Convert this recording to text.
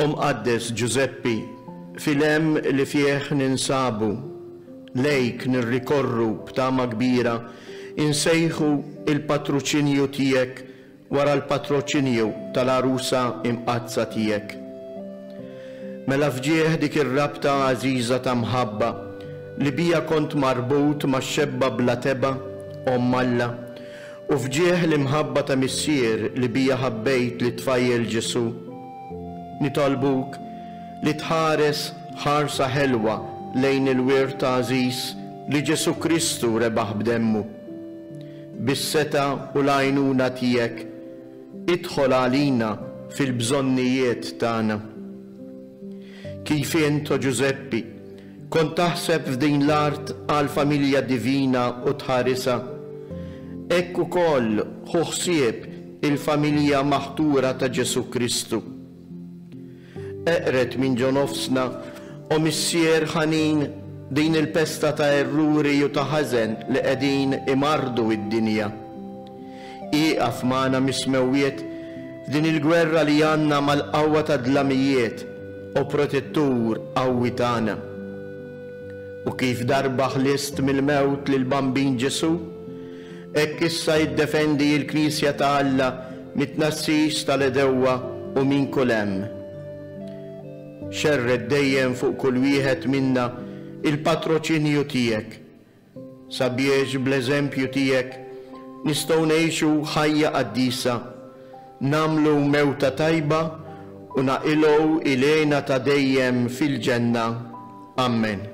O Mqaddes Ġużeppi, fil-hemm li fih ninsabu, lejk nirrikorru b'tama kbira, insejħu l-patruċinju tiegħek wara l-patroċinju tal-Għarusa Imqaddsa tiegħek. Mela f'ġieħ dik ir-rabta għażiża ta' mħabba li biha kont marbut max-xebba bla tebgħa, Omm Alla, U f'ġieħ l-imħabba ta' Missier li bija ħabbejt lit-tfajjel Ġesù, nitolbuk li tħares ħarsa ħelwa lejn il-wirt għażiż li Ġesù Kristu rebaħ b'demmu. Bis-setgħa u l-għajnuna tiegħek, idħol għalina fil-bżonnijiet tagħna. Kif int, o Ġużeppi, Kont taħseb f'din l-art għall-familja divina u tħarisha. Hekk ukoll ħu ħsieb il-familja maħtura ta' Ġesù Kristu. Eqred minn ġo nofsna, O Missier ħanin, din il-pesta ta' erruri u ta' ħażen li qegħdin imarrdu d-dinja. Ieqaf magħna mis-smewwiet f'din il-gwerra li għandna mal-qawwa tad-dlamijiet, O Protettur qawwi tagħna. U kif darba ħlist mill-mewt lill-Bambin Ġesù, hekk issa iddefendi l-Knisja ta' Alla mit-tnassis tal-għedewwa u minn kull hemm. Xerred dejjem fuq kull wieħed minna l-patroċinju tiegħek, Sabiex bl-eżempju tiegħek nistgħu ngħixu ħajja qaddisa, nagħmlu mewta tajba u naqilgħu ilena ta' dejjem fil-ġenna. Ammen.